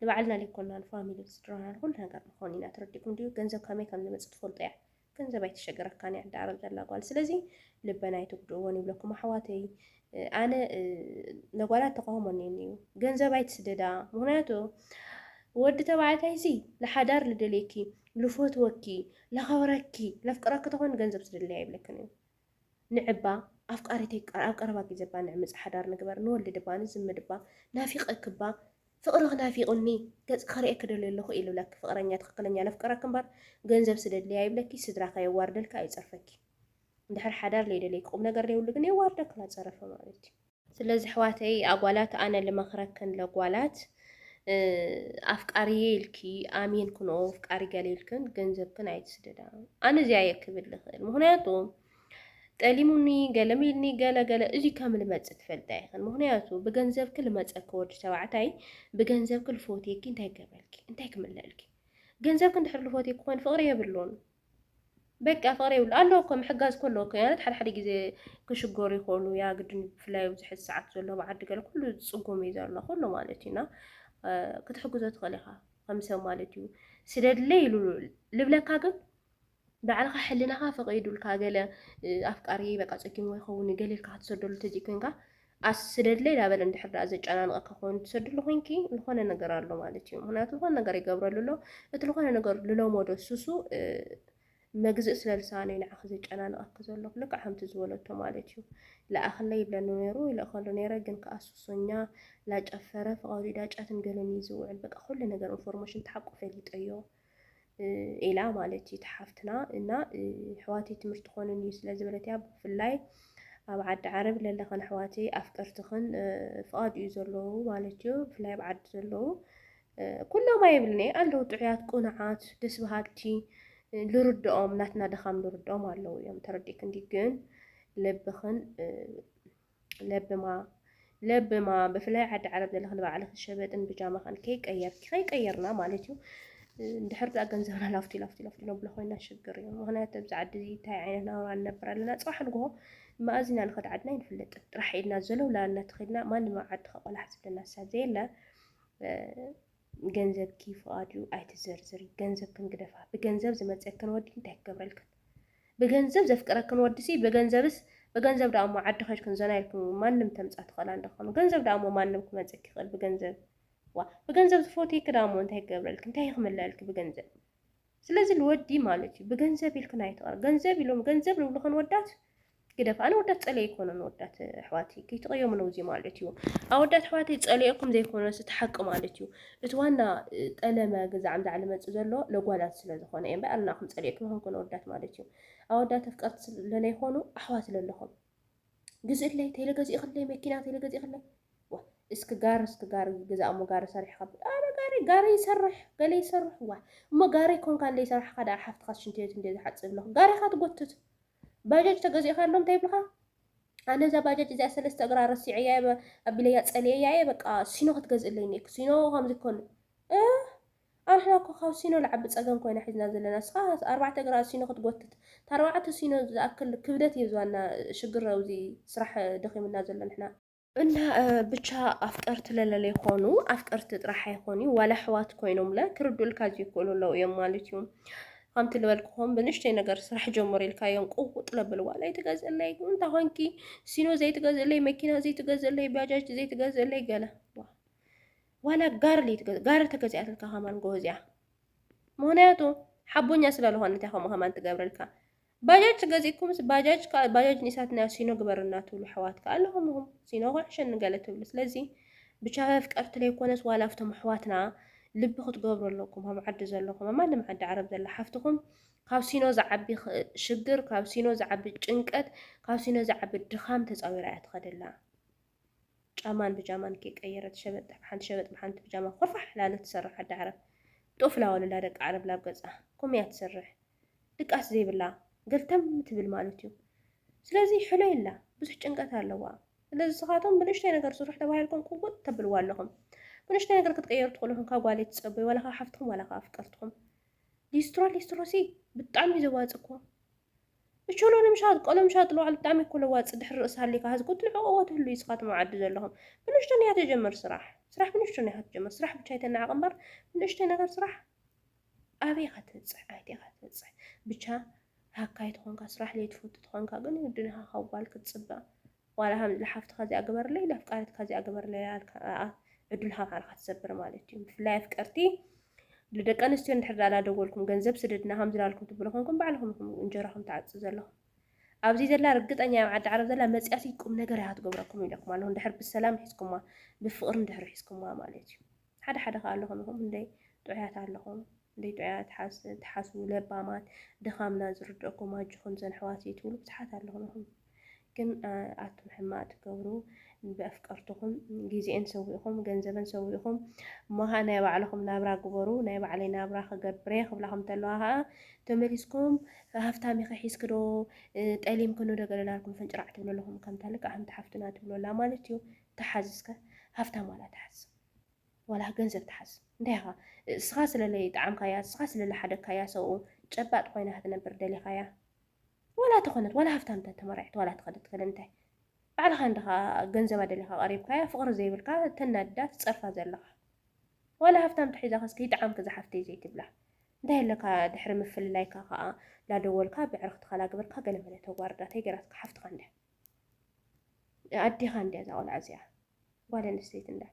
ንባዕልና ዘይኮናን ፋሚሊ ስድራና ንኹሉ ነገር ንኾን ኢና ተረዲእኩም ዲዩ ገንዘብ ከመይ ከም ዝመጽእ ትፈልጡ እያ ገንዘብ ኣይትሸገረካን እያ ዳዕረብ ዘላ ጓል ስለዚ ልበና ኣይትጉድእዎን ይብለኩም ኣሕዋተይ ኣነ ነጓላት ተቃውሞ እኒኒ እዩ ገንዘብ ኣይትስደዳ ምክንያቱ ወዲ ተባዕታይ ሲ ንሓዳር ልደልየኪ ልፈትወኪ ለኸብረኪ ለፍቅረኪ ተኾን ገንዘብ ስደለያ ይብለክን እዩ ንዕባ ኣፍቃሪተይ ኣብ ቀረባ ግዜ እባ ንዕምጽ ሓዳር ንግበር ንወልድ እባ ንዝምድ እባ ናፊቀክባ ፍቅርኽ ናፊቁኒ ገጽኪ ክርእየኪ ደልየ ኣለኹ ኢሉ ለኪ ፍቅረኛ ትክክለኛ ለፍቅረኪ እምበር ገንዘብ ስደድለይ ኣይብለኪ ስድራካ የዋርደልኪ ኣይጸርፈኪ እንድሕር ሓዳር ለይደለይኪ ቁምነገር ለይብሉ ግን የዋርደክላ ጸረፈ ማለት እዩ ስለዚ ኣሕዋተይ ኣጓላት ኣነ ልመክረክን ለጓላት ኣፍቃርየ ኢልኪ ኣሚን ክንኦ ኣፍቃሪ ገለ ኢልክን ገንዘብክን ኣይትስደዳ ኣነ እዚኣ እየ ክብል ልክእል ምክንያቱ ጠሊሙኒ ገለም ኢልኒ ገለ ገለ እዚ ከም ልመፅ ትፈልጣ ይኽን ምክንያቱ ብገንዘብኪ ልመፀኪ ወዲ ተባዕታይ ብገንዘብኪ ልፎትየኪ እንታይ ገበልኪ እንታይ ክምለልኪ ገንዘብኪ እንድሕር ልፎትየኪ ኮይኑ ፍቅሪ የብሉን በቃ ፍቅሪ የብሉ ኣለዎ እኮ ምሕጋዝ እኮ ኣለዎ እኮ ያነት ሓደ ሓደ ግዜ ክሽገሩ ይኽእሉ ያ ግድን ብፍላይ ኣብዚ ሕዚ ሰዓት ዘሎ ኣብ ዓዲ ገለ ኩሉ ዝጽጉም እዩ ዘሎ ኩሉ ማለት እዩና ክትሕግዞ ትኽእል ኢኻ ከም ሰብ ማለት እዩ ስደድለ ኢሉ ልብለካ ግን ባዕልኻ ሕልናኻ ፈቒዱልካ ገለ ኣፍቃሪ በቃ ጸጊሙ ይኸውን ገሌልካ ክትሰደሉ ተዘይኮይንካ ኣስ ስደድለይ ዳበለ እንድሕር ድኣ ዘጨናንቐኪ ኮይኑ ትሰድሉ ኮይንኪ ዝኾነ ነገር ኣሎ ማለት እዩ። ምክንያቱ ዝኾነ ነገር ይገብረሉ ኣሎ እቲ ዝኾነ ነገር ልለመዶ ሱሱ መግዝእ ስለ ልሳነ ንዓኺ ዘጨናንቐኪ ዘሎ ልክዕ ከምቲ ዝበለቶ ማለት እዩ። ለኣኽለይ ይብለኒ ነይሩ ይልእኸሉ ነይረ ግን ከዓ ሱሶኛ ላጨፈረ ፍቐዱ ዳጫትን ገለን እዩ ዝውዕል በቃ ኩሉ ነገር ኢንፎርሜሽን ተሓቁ ፈሊጠዮ። ኢላ ማለት እዩ ተሓፍትና እና ሕዋተይ ትምህርቲ ኮንን እዩ ስለ ዝበለት እያ ብፍላይ ኣብ ዓዲ ዓረብ ለለኸን ኣሕዋተይ ኣፍቀርትኽን ፍቓድ እዩ ዘለዉ ማለት እዩ ብፍላይ ኣብ ዓዲ ዘለዉ ኩሎም ኣይብልኒ ኣለዉ ጥዑያት ቁኑዓት ደስ በሃልቲ ልርድኦም ናትና ድኻም ልርድኦም ኣለዉ እዮም ተረዲእክንዲ ግን ልብኽን ለብማ ለብማ ብፍላይ ዓዲ ዓረብ ዘለኽን ባዕልኽን ሸበጥን ብጃማኻን ከይቀየርኪ ከይቀየርና ማለት እዩ እንድሕር ዳኣ ገንዘብና ላፍቲ ላፍቲ ላፍቲ ነብሎ ኮይና ሽግር እዩ ምክንያቱ ኣብዚ ዓዲ እዚ እንታይ ዓይነት ናብራ ንነብር ኣለና ፅባሕ ንግሆ መኣዝና ንኸድ ዓድና ይንፍለጥን ጥራሕ ኢልና ዘለው ላና ተኸድና ማንም ኣብ ዓዲ ከቆላሕ ዝብለና ሰብ ዘየለ ገንዘብኪ ፍቓድዩ ኣይትዘርዝሪ ገንዘብክን ግደፋ ብገንዘብ ዝመጸክን ወዲ እንታይ ክገብረልክን ብገንዘብ ዘፍቅረክን ወዲሲ ብገንዘብስ ብገንዘብ ደኣሞ ዓዲ ከድክን ዘና ኢልክን ማንም ተምጻ ትኽእላ እንደኾኑ ገንዘብ ደኣሞ ማንም ክመጽኪ ይኽእል ብገንዘብ ዋ ብገንዘብ ዝፎትየኪ ደኣሞ እንታይ ክገብረልኪ እንታይ ክምለኣልኪ ብገንዘብ ስለዚ ልወዲ ማለት እዩ ብገንዘብ ኢልክን ኣይትቕረ ገንዘብ ኢሎም ገንዘብ ልብልኹ ንወዳት ግደፍ ኣነ ወዳት ጸለየ ይኮነ ንወዳት ኣሕዋተይ ከይትቐየሙ ነው እዚ ማለት እዩ ኣወዳት ኣሕዋተይ ጸለየኩም ዘይኮነስ እቲ ሓቂ ማለት እዩ እቲ ዋና ጠለመ ግዛዕ ምዛዕ ልመጽእ ዘሎ ለጓላት ስለ ዝኾነ እየ እምበር ኣናኹም ጸለየኩም ይኾንኩ ንወዳት ማለት እዩ ኣወዳት ኣፍቀርቲ ስለለይኮኑ ኣሕዋት ለለኹም ግዝእለይ ቴለ ገዚእክለይ መኪና ቴለ ገዚእክለይ ዋ እስኪ ጋሪ እስኪ ጋሪ ገዛ እሞ ጋሪ ሰሪሕ ካብ ኣነ ጋሪ ጋሪ ይሰርሕ ገለ ይሰርሕ ዋ እሞ ጋሪ ኮንካ እንደ ይሰራሕካ ደኣ ሓፍትካ ሽንቲ ቤት እንደ ዝሓጽብ ኣለኹ ጋሪኻ ትጎትት ባጃጅ ተገዚእካሎም እንታይ ይብልካ ኣነ እዛ ባጃጅ እዚኣ ሰለስተ እግራ ረሲዐያ ኣቢለያ ጸልየያ እየ በቃ ሲኖ ክትገዝእለይ ኔክ ሲኖ ከምዚ ኮን ኣንሕና እኮ ካብ ሲኖ ልዓቢ ጸገም ኮይና ሒዝና ዘለና እስኻ ኣርባዕተ እግራ ሲኖ ክትጎትት ታርባዕተ ሲኖ ዝኣክል ክብደት እዮ ዝዋና ሽግር ኣውዚ ስራሕ ደኺሙና ዘሎ ንሕና እና ብቻ ኣፍቀርቲ ለለለይ ኾኑ ኣፍቀርቲ ጥራሕ ኣይኾንዩ ዋላ ኣሕዋት ኮይኖምለ ክርዱእልካ ዝይክእሉ ኣለው እዮም ማለት እዩ ከምቲ ልበልክኹም ብንሽተይ ነገር ስራሕ ጀምሩ ኢልካዮም ቁውጥ ለብል ዋላ ኣይትገዝእለይ እንታይ ኾንኪ ሲኖ ዘይትገዝእለይ መኪና ዘይትገዝእለይ ባጃጅ ዘይትገዝእለይ ገለ ዋላ ጋርሊ ጋር ተገዚኣትልካ ከማን ጎበዝ እያ ምክንያቱ ሓቦኛ ስለዝኾነት እያ ከምኡ ከማን ትገብረልካ ባጃጅ ገዚእኩምስ ባጃጅ ከዓ ባጃጅ ኒሳትና ሲኖ ግበርና ትብሉ ኣሕዋት ከዓ ኣለኹም ኢኹም ሲኖ ኩዕሸኒ ገለ ትብሉ ስለዚ ብቻ መፍቀርቲ ዘይኮነስ ዋላ ኣብቶም ኣሕዋትና ልቢ ክትገብሩ ኣለኩም ኣብ ዓዲ ዘለኹም ኣብ ማንም ዓዲ ዓረብ ዘላ ሓፍትኹም ካብ ሲኖ ዝዓቢ ሽግር ካብ ሲኖ ዝዓቢ ጭንቀት ካብ ሲኖ ዝዓቢ ድኻም ተፃዊራ እያ ትኸደላ ጫማን ብጃማን ከይቀየረት ሸበጥ ብሓንቲ ሸበጥ ብሓንቲ ብጃማ ኮርፋሕ ላለት ትሰርሕ ኣደ ዓረብ ጡፍ ላወለላ ደቂ ዓረብ ላብ ገጻ ኮም እያ ትሰርሕ ድቃስ ዘይብላ ገልተም ትብል ማለት እዩ ስለዚ ሕሎ የላ ብዙሕ ጭንቀት ኣለዋ ስለዚ ንስኻቶም ብንእሽተይ ነገር ስርሑ ተባሂልኩም ቁጉጥ ተብልዋ ኣለኹም ብንእሽተይ ነገር ክትቀየሩ ትኽእሉ ኢኹም ካብ ጓለይ ትጸበዩ ዋላ ካብ ሓፍትኩም ዋላ ካብ ኣፍቀርትኩም ሊስትሮ ሊስትሮሲ ብጣዕሚ ዘዋጽ እኮ እቾሎኒ ምሻጥ ቆሎ ምሻጥ ልዋዕሉ ብጣዕሚ እኮ ለዋጢ ድሕሪ ርእሲ ሃሊካ ሀዚ ቁትሊ ዑቅቦ ትህሉ ኢስካትም ኣብ ዓዲ ዘለኩም ብንእሽቶን ኢካ ተጀምር ስራሕ ስራሕ ብንእሽቶን ኢካ ትጀምር ስራሕ ብቻ ኣይተናዕቅ እምበር ብንእሽተይ ነገር ስራሕ ኣበይ ኢካ ትብጽሕ ኣይቲ ኢካ ትብጽሕ ብቻ ሃካይ ተኮንካ ስራሕ ለይትፈቱ ተኮንካ ግን ይውድን ኢካ ካብ ጓል ክትጽበ ዋላ ከምዚ ንሓፍትኻ እዚኣ ግበርለይ ነፍቃሪትካ እዚኣ ግበርለይ ኣልካ ኣኣ ዕዱል ሃብሃብ ኢኻ ትሰብር ማለት እዩ ብፍላይ ኣፍቀርቲ ልደቂ ኣንስትዮ እንድሕር ዳኣ ዳደወልኩም ገንዘብ ስደድና ከምዚ ዳልኩም ትብሉ ኮንኩም ባዕልኹም ኢኹም እንጀራኹም ትዓጽ ዘለኹም ኣብዚ ዘላ ርግጠኛ ኣብ ዓዲ ዓረብ ዘላ መጽያሲ ቁም ነገር ኢኻ ትገብረኩም ኢለኩም ኣለኹ እንድሕር ብሰላም ሒዝኩማ ብፍቕሪ እንድሕር ሒዝኩማ ማለት እዩ ሓደ ሓደ ከኣ ኣለኹም ኢኹም እንደይ ጥዑያት ኣለኹም እንደይ ጥዑያት ትሓስቡ ለባማት ድኻምና ዝርደኩም ኣጆኹም ዘን ኣሕዋትይ ትብሉ ብዙሓት ኣለኹም ኢኹም ግን ኣቱም ሕማቅ ትገብሩ ብኣፍቀርትኹም ግዜኤን ሰዊእኹም ገንዘበን ሰዊእኹም እሞ ከኣ ናይ ባዕልኹም ናብራ ግበሩ ናይ ባዕለይ ናብራ ክገብርየ ክብላኹም ተለዋ ከኣ ተመሊስኩም ሃፍታም ኢኺ ሒዝክዶ ጠሊምክኑ ዶ ገለ ናልኩም ፍንጭራዕ ትብሉ ኣለኹም ከምታ ልክዕ ከምቲ ሓፍትና ትብሉ ኣላ ማለት እዩ ተሓዝስከ ሃፍታም ዋላ ተሓዝ ዋላ ገንዘብ ትሓዝ እንታይ ኢኻ እስኻ ስለ ለይጠዓምካያ እስኻ ስለ ለሓደግካያ ሰብኡ ጨባጥ ኮይና ክትነብር ደሊኻያ ዋላ ተኾነት ዋላ ሃፍታም ተተመራዒት ዋላ ተኸደት ከደ እንታይ ባዕልኻ እንድኻ ገንዘባ ደሊኻ ቀሪብካያ ፍቕሪ ዘይብልካ ተናድዳ ትጸርፋ ዘለኻ ዋላ ሃፍታም ተሒዛኸስ ከይጠዓምኪ ዝሓፍተይ ዘይትብላ እንታይ ኣለካ ድሕሪ ምፍልላይካ ከዓ ላደወልካ ብዕርኽትኻ ላግበርካ ገለመለ ተጓርዳ ተይ ገራትካ ሓፍትኻ እንድያ ኣዴኻ እንድያ እዛ ቆልዓ እዚኣ ጓል ኣንስተይቲ እንዳ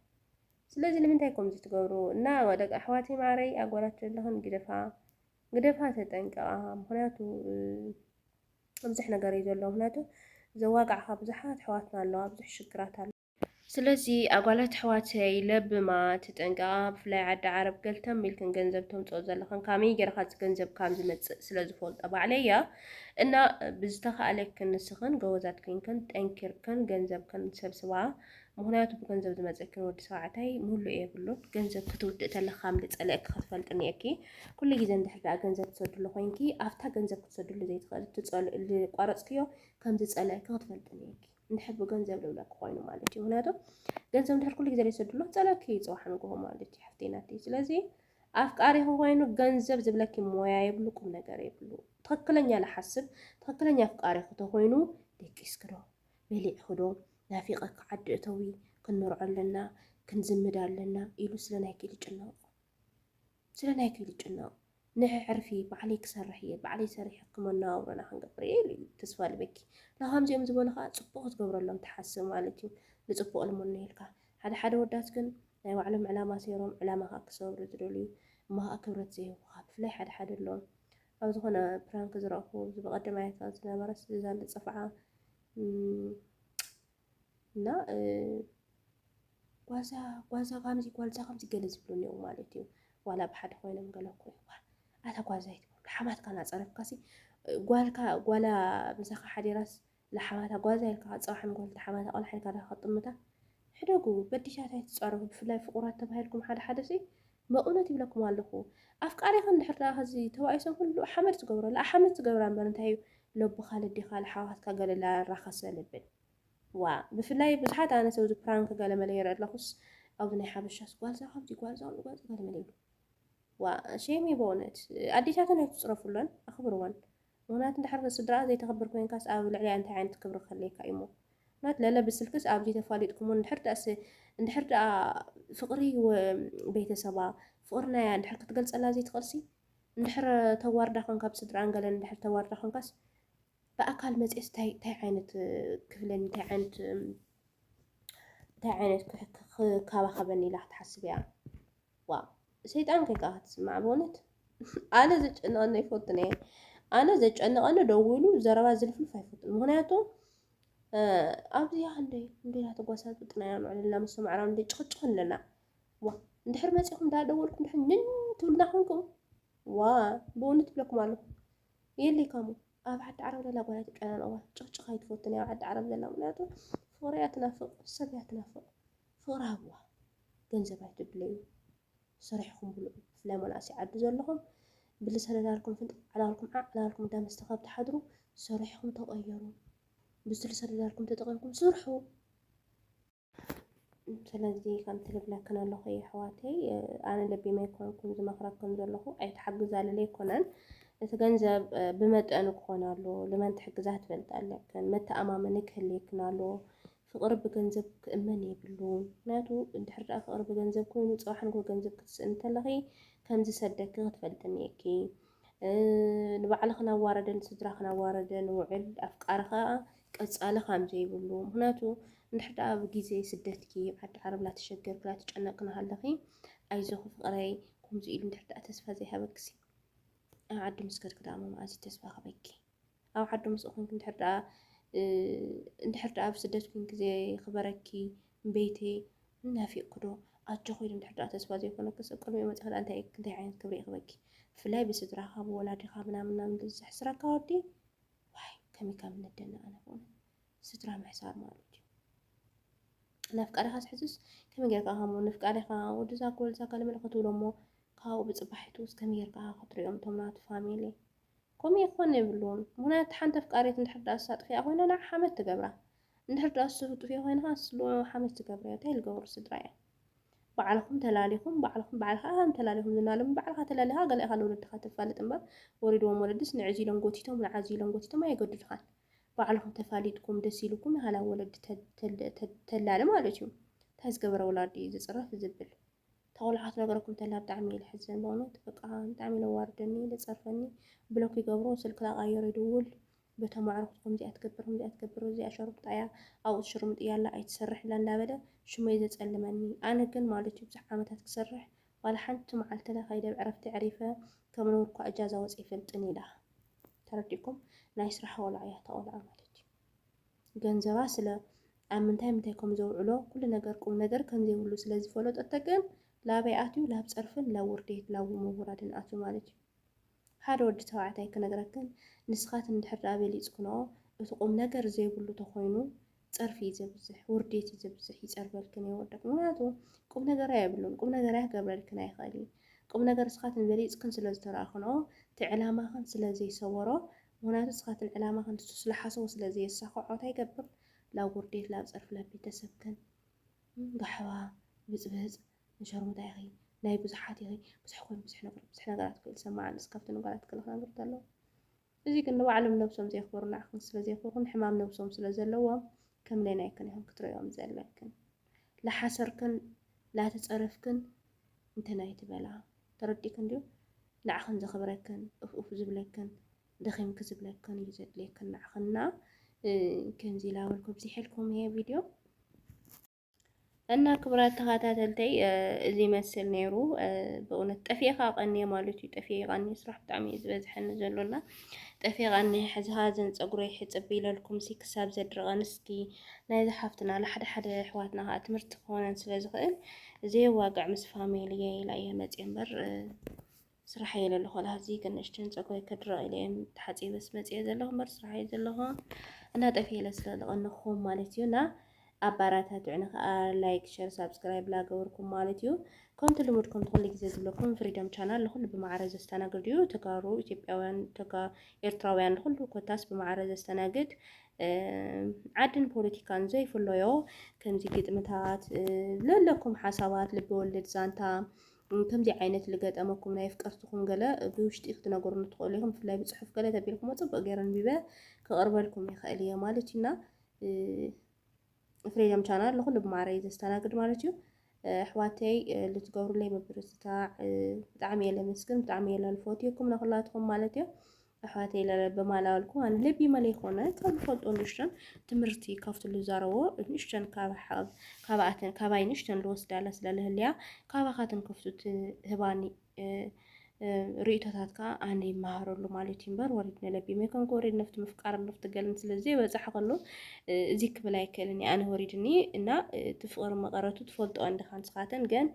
ስለዚ ንምንታይ ከምዚ ትገብሩ እና ደቂ ኣሕዋተይ ማዓረይ ኣጓላት ዘለኽን ግደፋ ግደፋ ተጠንቀቃ ምክንያቱ ብዙሕ ነገር እዩ ዘሎ ምክንያቱ ዘዋጋዕካ ብዙሓት ኣሕዋትና ኣለዋ ብዙሕ ሽግራት ኣሎ ስለዚ ኣጓላት ኣሕዋተይ ለብማ ተጠንቀቃ ብፍላይ ዓዲ ዓረብ ገልተም ኢልክን ገንዘብ ተምጽኦ ዘለኽን ካመይ ጌርካ እዚ ገንዘብ ካም ዝመጽእ ስለ ዝፈልጦ ባዕለይ እያ እና ብዝተኻእለክን ንስኽን ጎበዛት ኮይንክን ጠንኪርክን ገንዘብክን ሰብስባ ምክንያቱ ብገንዘብ ዝመፀክን ወዲ ሰባዕታይ ሙሉእ የብሉን ገንዘብ ክትውድእ ተለካ ከም ዝፀለእኪ ክትፈልጢ እኒኤኪ ኩሉ ግዜ እንድሕር ዳኣ ገንዘብ ትሰድሉ ኮይንኪ ኣብታ ገንዘብ ክትሰድሉ ዘይትኽእል ዝቋረፅክዮ ከም ዝፀለእኪ ክትፈልጢ እኒኤኪ እንድሕር ብገንዘብ ልብለኪ ኮይኑ ማለት እዩ ምክንያቱ ገንዘብ እንድሕር ኩሉ ግዜ ዘይትሰድሉ ፀለእኪ እዩ ፅባሕ ንግሆ ማለት እዩ ሓፍተይ ናተይ ስለዚ ኣፍቃሪኺ ኮይኑ ገንዘብ ዝብለኪ ሞያ የብሉ ቁም ነገር የብሉ ትኽክለኛ ልሓስብ ትኽክለኛ ኣፍቃሪኺ ተኾይኑ ደቂስኪ ዶ በሊዕኺ ዶ ናፊቐኪ ዓዲ እተዊ ክንመርዖ ኣለና ክንዝምድ ኣለና ኢሉ ስለ ናይኪ ኢሉ ይጭነቕ ስለ ናይኪ ኢሉ ይጭነቕ ንሕዕርፊ ባዕለይ ክሰርሕ እየ ባዕለይ ሰሪሐ ክመነባብሮና ክንገብር እየ ኢሉ ተስፋ ልበኪ ንከምዚኦም ዝበሉ ከዓ ፅቡቕ ክትገብረሎም ትሓስብ ማለት እዩ ንፅቡቕ ልምኖ ኢልካ ሓደ ሓደ ኣወዳት ግን ናይ ባዕሎም ዕላማ ሰይሮም ዕላማኻ ክሰብሩ ዝደልዩ እሞ ኸኣ ክብረት ዘይህቡኻ ብፍላይ ሓደ ሓደ ኣሎ ኣብ ዝኾነ ፕራንክ ዝረእኹ እዚ ብቐደም ኣያትና ዝነበረስ እዛ ዝጸፍዓ እና ጓዛ ጓዛ ከምዚ ጓልዛ ከምዚ ገለ ዝብሉ እኒኦ ማለት እዩ ዋላ ብሓደ ኮይኖም ገለ እኮ ይኳ ኣታ ጓዛ ይትብሉ ሓማትካ ናፀረፍካሲ ጓልካ ጓላ ምሳኻ ሓዲራስ ንሓባታ ጓዛ ኢልካ ክትጸውሓ ምክልቲ ሓባታ ቆልዓ ኢልካ ድካ ክትጥምታ ሕደጉ በዲሻት ኣይትጻረፉ ብፍላይ ፍቁራት ተባሂልኩም ሓደ ሓደ ሲ መቅነት ይብለኩም ኣለኩ ኣፍቃሪካ እንድሕር ደኣ ከዚ ተባኢሶም ኩሉ ሓመድ ትገብሮ ለኣሓመድ ትገብራ እንበር እንታይ እዩ ለቦካ ለዴካ ለሓዋትካ ገለ ለኣራካ ሰለብል ዋእ ብፍላይ ብዙሓት ኣነስ ኣብዚ ፕራንክ ገለመለ ይርኢ ኣለኩስ ኣብዚ ናይ ሓበሻስ ጓልዛ ካብዚ ጓልዛ ጓልዛ ገለመለ ይብሉ ዋእ ሼም እዩ በእውነት ኣዴታተን ኣይትፅረፉለን ኣኽብርወን ምኽንያቱ እንድሕር ንስድራኣ ዘይተኽብር ኮይንካስ ኣብ ልዕሊኣ እንታይ ዓይነት ክብሪ ክህልየካ እዩሞ ምኽንያቱ ለለ ብስልክስ ኣብዚ ተፋሊጥኩሞ እንድሕር ደኣስ እንድሕር ደኣ ፍቕሪ ቤተሰባ ፍቕሪ ናያ እንድሕር ክትገልፀላ ዘይትኽእልሲ እንድሕር ተዋርዳ ኮንካ ብስድራኣን ገለን እንድሕር ተዋርዳ ኮንካስ ብኣካል መፅኤስ እንታይ ዓይነት ክብለኒ እንታይ ዓይነት እንታይ ዓይነት ክካባኸበኒ ኢላ ክትሓስብ እያ ዋእ ሰይጣን ኮይንካ ኢካ ትስማዕ በእውነት ኣነ ዘጨንቀኒ ኣይፈቱን እየ ኣነ ዘጨንቀኒ ደዊሉ ዘረባ ዝልፍልፍ ኣይፈቱን ምክንያቱ ኣብዚ ክንደይ እንዴና ተጓሳት ብጥናያ ምዕልና ምስ ምዕራብ እንደ ጭቅጭቅ ኣለና ዋ እንድሕር መፂኹም ዳደወልኩም ድሕር ንን ትብልና ኮንኩም ዋ ብእውነት ትብለኩም ኣለኹ የለይ ካሙ ኣብ ዓዲ ዓረብ ዘላ ጓል ኣይትጨናነቕዋ ጭቕጭቕ ኣይትፈቱን ኣብ ዓዲ ዓረብ ዘላ ምክንያቱ ፍቕሪ እያ ትናፍቕ ሰብ እያ ትናፍቕ ፍቅሪ ሃብዋ ገንዘብ ኣይትድለዩ ሰሪሕኹም ብልዑ ብፍላይ መናእሰይ ዓዲ ዘለኹም ብልሰን እናልኩም ፍንጥጥ ዕላልኩም ዓዕ እናልኩም እንዳ መስተ ካብ ትሓድሩ ሰሪሕኹም ተቀየሩ ብዝልሰን እናልኩም ተጠቂምኩም ስርሑ ስለዚ ከምቲ ልብለክን ኣለኹ የሕዋተይ ኣነ ለቢመ ኣይኮንኩን ዝመኽረክን ዘለኹ ኣይትሓግዛ ልለ ኣይኮነን እቲ ገንዘብ ብመጠኑ ክኾን ኣለዎ ልመን ትሕግዛ ትፈልጥ ኣለክን መተኣማመኒ ክህልየክን ኣለዎ ፍቅሪ ብገንዘብ ክእመን የብሉን ምክንያቱ እንድሕር ድኣ ፍቅሪ ብገንዘብ ኮይኑ ጽባሕ ንግሆ ገንዘብ ክትስእኒ ተለኪ ከም ዝሰደኪ ክትፈልጢ እኒኤኪ ንባዕልክን ኣዋረደ ንስድራክን ኣዋረደ ንውዕል ኣፍቃሪ ከኣ ቀጻሊ ከም ዘይብሉ ምክንያቱ እንድሕር ድኣ ኣብ ግዜ ስደትኪ ዓዲ ዓረብ ላተሸገርኪ ላተጨነቅኪ ናሃለኪ ኣይዞኪ ፍቅረይ ከምዚ ኢሉ እንድሕር ድኣ ተስፋ ዘይሃበኪ ኣብ ዓዲ ምስ ከድኪ ድኣ መኣዝ እዩ ተስፋ ክህበኪ ኣብ ዓዱ ምስኡ ኮንኪ እንድሕር ደኣ እንድሕር ደኣ ኣብ ስደት ኮንኪ ዘይኽበረኪ ቤተይ ናፊቕኪ ዶ ኣጆኺ ኢሉ እንድሕር ደኣ ተስፋ ዘይኮነኪ ሰብ ቅድሚኡ መጺኺ ደኣ እንታይ እንታይ ዓይነት ክብሪ ይኽበኪ ብፍላይ ብስድራኻ ብወላዲኻ ምናምን ምናምን ዝሕስረካ ወዲ ዋይ ከመይ ከም እንደነቕ ኣነ ብእውነት ስድራ ምሕሳር ማለት እዩ ነፍቃሪኻ ዝሕዝስ ከመይ ጌርካ ከም ንፍቃሪኻ ወድዛ ጎልዛ ካልመለ ክትብሎ እሞ ካብኡ ብፅባሒቱ ውስጥ ከመይ ጌርካ ክትሪኦም እቶም ናቱ ፋሚሊ ከምኡ ይኾን የብሉን ምኽንያቱ ሓንቲ ኣፍቃሪት እንድሕር ድኣ እሳ ጥፊኣ ኮይና ንዓ ሓመድ ትገብራ እንድሕር ድኣ እሱ ጥፊኡ ኮይኑ ከኣ ንሱ ሓመድ ትገብርዮ ታይ ልገብሩ ስድራ እዮም ባዕልኹም ተላሊኹም ባዕልኹም ባዕልኻ ኢኻ እንተላሊኹም ዝና ሎሚ ባዕልኻ ተላሊኻ ገለ ኢኻ ንወለድኻ ተፋልጥ እምበር ወሪድዎም ወለድስ ንዕዚ ኢሎም ጎቲቶም ንዓዚ ኢሎም ጎቲቶም ኣየገድዱኻን ባዕልኹም ተፋሊጥኩም ደስ ኢሉኩም ኢኻ ናብ ወለዲ ተላሊ ማለት እዩ ታይ ዝገበረ ወላዲ እዩ ዝፅረፍ ዝብል ተቆልዓ ክትነግረኩም ተላ ብጣዕሚ ኢዩ ልሕዘን በእውነት በቃ ብጣዕሚ ኢዩ ለዋርደኒ ለጸርፈኒ ብሎክ ይገብሮ ስልክ ላቃይሮ ይድውል በቶም ኣዕሩክቱ ከምዚኣ ትገብር ከምዚኣ ትገብር እዚኣ ሸሩክጣ ኢያ ኣብኡ ትሽርሙጥ ኢያላ ኣይትሰርሕ ኢላ እንዳበለ ሽመይ ዘጸልመኒ ኣነ ግን ማለት ኢዩ ብዙሕ ዓመታት ክሰርሕ ዋላ ሓንቲ መዓልቲ ለከይደ ብ ዕረፍቲ ዕሪፈ ከም ነውሪ እኳ እጃዛ ወጺ ኣይፈልጥን ኢላ ተረዲእኩም ናይ ስራሕ ቆልዓ ኢያ እታ ቆልዓ ማለት ኢዩ። ገንዘባ ስለ ኣብ ምንታይ ምንታይ ከም ዘውዕሎ ኩሉ ነገር ቁም ነገር ከም ዘይብሉ ስለ ዝፈለጠቶ ግን ላበይ ኣትዩ ላብ ጸርፍን ላብ ውርዴት ላብ ምውራድን ኣትዩ ማለት እዩ ሓደ ወዲ ተባዕታይ ክነግረክን ንስኻትን እንድሕር ደኣ በሊጽክንኦ እቲ ቁም ነገር ዘይብሉ ተኾይኑ ጸርፊ እዩ ዘብዝሕ ውርዴት እዩ ዘብዝሕ ይጸርበልክን የወርደክ ምክንያቱ ቁም ነገር ኣይብሉን ቁም ነገር ኣይክገብረልክን ኣይኽእል እዩ ቁም ነገር እስኻትን በሊጽክን ስለ ዝተረኣክንኦ እቲ ዕላማኽን ስለ ዘይሰወሮ ምክንያቱ ንስካትን ዕላማክን ንሱ ስለሓሰቦ ስለዘየሳከዖ ታይ ይገብር ላብ ውርዴት ላብ ፀርፊ ላብ ቤተሰብክን እም ጋሕባ ብፅብፅ ንሸርሙጣ ኢኪ ናይ ብዙሓት ኢኪ ብዙሕ ኮይኑ ብዙሕ ነገር ብዙሕ ነገራት እኮ ይሰማዕ ኣሎ እስኪ ካብተን ጓላት ገለ ክነግር ተለኩ እዙይ ግን ንባዕሎም ነብሶም ዘየክብሩ ንዓክን ስለዘየክብርክን ሕማም ነብሶም ስለዘለዎም ከም ሌናይክን ኢክን ክትሪኦም ዘለክን ላሓሰርክን ላተፀረፍክን እንትን ኣይትበላ። ተረዲእክን ድዩ ንዓኽን ዘኽብረክን ኡፍ ኡፍ ዝብለክን ደኺምኪ ዝብለክን እዩ ዘድልየክን ንዓኽን እና ከምዚ ኢላ በልኩ ኣብዚሐልኩም ይሄ ቪድዮ እና ክብራት ተኸታተልተይ እዚ ይመስል ነይሩ። በእውነት ጠፊኤ ከዓ ቀኒየ ማለት እዩ። ጠፊኤ ቀኒየ ስራሕ ብጣዕሚ እዩ ዝበዝሐኒ ዘሎና ጠፊኤ ቀኒየ ሕዚ ሃዘን ፀጉረይ ሕፅብ ኢለልኩም ሲ ክሳብ ዘድርቐን እስኪ ናይዚ ሓፍትና ንሓደ ሓደ ኣሕዋትና ከዓ ትምህርቲ ክኾነን ስለ ዝኽእል ዘየዋግዕ ምስ ፋሚልየ ኢላ እየ መፅየ እምበር ስራሕ እየ ዘለኹ ላህዚ ግን ንእሽተን ፀጉረይ ክድረቕ ኢለ እየ ተሓፂበስ መፅየ ዘለኹ እምበር ስራሕ እየ ዘለኹ እና ጠፍየ ኢለ ስለ ዝቐነኹም ማለት እዩ እና ኣባራታትዑኒ ከዓ ላይክ ሸር ሳብስክራይብ ላገበርኩም ማለት እዩ ከምቲ ልሙድኩም ትኩሉ ግዜ ዝብለኩም ፍሪደም ቻናል ንኩሉ ብማዕረ ዘስተናግድ እዩ ተጋሩ ኢትዮጵያውያን ኤርትራውያን ንኩሉ ኮታስ ብማዕረ ዘስተናግድ ዓድን ፖለቲካን ዘይፍለዮ ከምዚ ግጥምታት ለለኩም ሓሳባት ልበወለድ ዛንታ ከምዚ ዓይነት ልገጠመኩም ናይ ፍቀርትኹም ገለ ብውሽጢ ክትነገሩኒ ትኽእሉ ኢኹም። ብፍላይ ብፅሑፍ ገለ ተቢልኩሞ ፅቡቅ ገይረ ንቢበ ክቕርበልኩም ይኽእል እየ ማለት እዩና ፍሪደም ቻናል ንኹሉ ብማዕረ እዩ ዘስተናግድ ማለት እዩ። ኣሕዋተይ ልትገብሩለይ ምብርትታዕ ብጣዕሚ እየ ለመስግን፣ ብጣዕሚ እየ ለልፎትየኩም ንኹላትኩም ማለት እዩ። ኣሕዋተይ ለለ ብማላወልኩ ኣን ልቢ መለይ ኮነ ካብ ዝፈልጦ ንእሽተን ትምህርቲ ካብቲ ልዛረቦ ንእሽተን ካባኣተን ካባይ ንእሽተን ልወስዳለ ስለ ልህልያ ካባኻ ትንክፍቱ ትህባኒ ርእቶታትካ ኣነ ይመሃረሉ ማለት እዩ እምበር ወሪድ ንለቢ መይኮንኩ ወሪድ ነፍቲ ምፍቃር ነፍቲ ገልን ስለዚ በፃሕ ከሎ እዚ ክብል ኣይክእልን ኣነ ወሪድኒ እና ትፍቕሪ መቐረቱ ትፈልጦ እንድኻ ንስኻተን ግን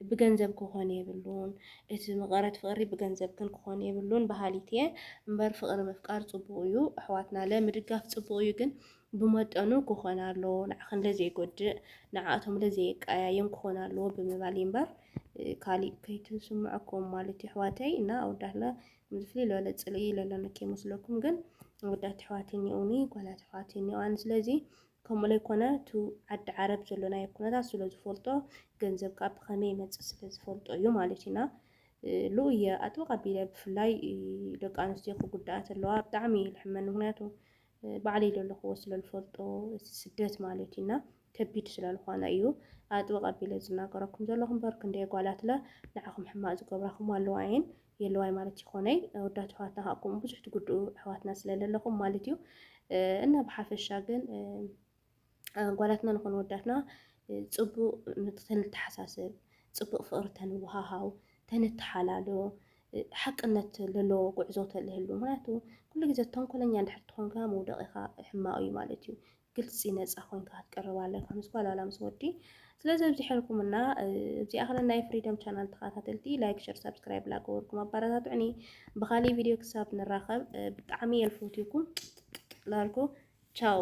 ብገንዘብ ክኾን የብሉን እቲ መቐረት ፍቕሪ ብገንዘብ ግን ክኾን የብሉን በሃሊት እየ እምበር ፍቕሪ ምፍቃር ፅቡቕ እዩ ኣሕዋትና ለ ምድጋፍ ፅቡቕ እዩ ግን ብመጠኑ ክኾን ኣለዎ ንዓኽን ለዘይጎድእ ንዓኣቶም ለዘየቀያይም ክኾን ኣለዎ ብምባል እዩ እምበር ካሊእ ከይትስምዕኩም ማለት እዩ ኣሕዋተይ እና ኣወዳት ለ ከምዚ ፍልይ ዝበለ ፅልኢ ለለነ ከይመስለኩም ግን ኣወዳት ኣሕዋት እኒኦኒ ጓላት ኣሕዋት እኒኦኣን ስለዚ ከምኡ ለይኮነ እቱ ዓዲ ዓረብ ዘሎናዮ ኩነታት ስለ ዝፈልጦ ገንዘብ ከኣ ብኸመይ ይመጽእ ስለ ዝፈልጦ እዩ ማለት እዩ እና ሉ እየ ኣጥብቅ ኣቢለ ብፍላይ ደቂ ኣንስትዮ ክጉዳኣ ተለዋ ብጣዕሚ እዩ ልሕመን ምክንያቱ ባዕለይ ዘለኹዎ ስለ ዝፈልጦ ስደት ማለት እዩ እና ከቢድ ስለ ዝኾነ እዩ ኣጥብቅ ኣቢለ ዝናገረኩም ዘለኹ እምበር ክንደይ ጓላትለ ንዓኹም ሕማቅ ዝገብራኹም ኣለዋ እየን የለዋይ ማለት ይኾነይ ወዳት ኣሕዋትና ከዓ ከምኡ ብዙሕ ትጉድኡ ኣሕዋትና ስለለለኹም ማለት እዩ እና ብሓፈሻ ግን ጓላትና ንኾነ ወዳትና ፅቡቅ ተንተሓሳስብ ፅቡቅ ፍቅሪ ተንወሃሃው ተንተሓላሎ ሓቅነት ዘለዎ ጉዕዞ ተልህሉ ምክንያቱ ኩሉ ግዜ ተንኮለኛ እንድሕር ትኾንካ መውደቂኻ ሕማቅ እዩ ማለት እዩ ግልጺ ነጻ ኮንካ ክትቀርብ ኣለካ ምስ ጓል ዋላ ምስ ወዲ ስለዚ ኣብዚሐልኩምና እዚኣ ክለ ናይ ፍሪደም ቻናል ተኸታተልቲ ላይክ ሸር ሳብስክራይብ ላገበርኩም ኣባረታትዑኒ ብኻሊእ ቪድዮ ክሳብ ንራኸብ ብጣዕሚ የልፈትኩም ላልኩ ቻው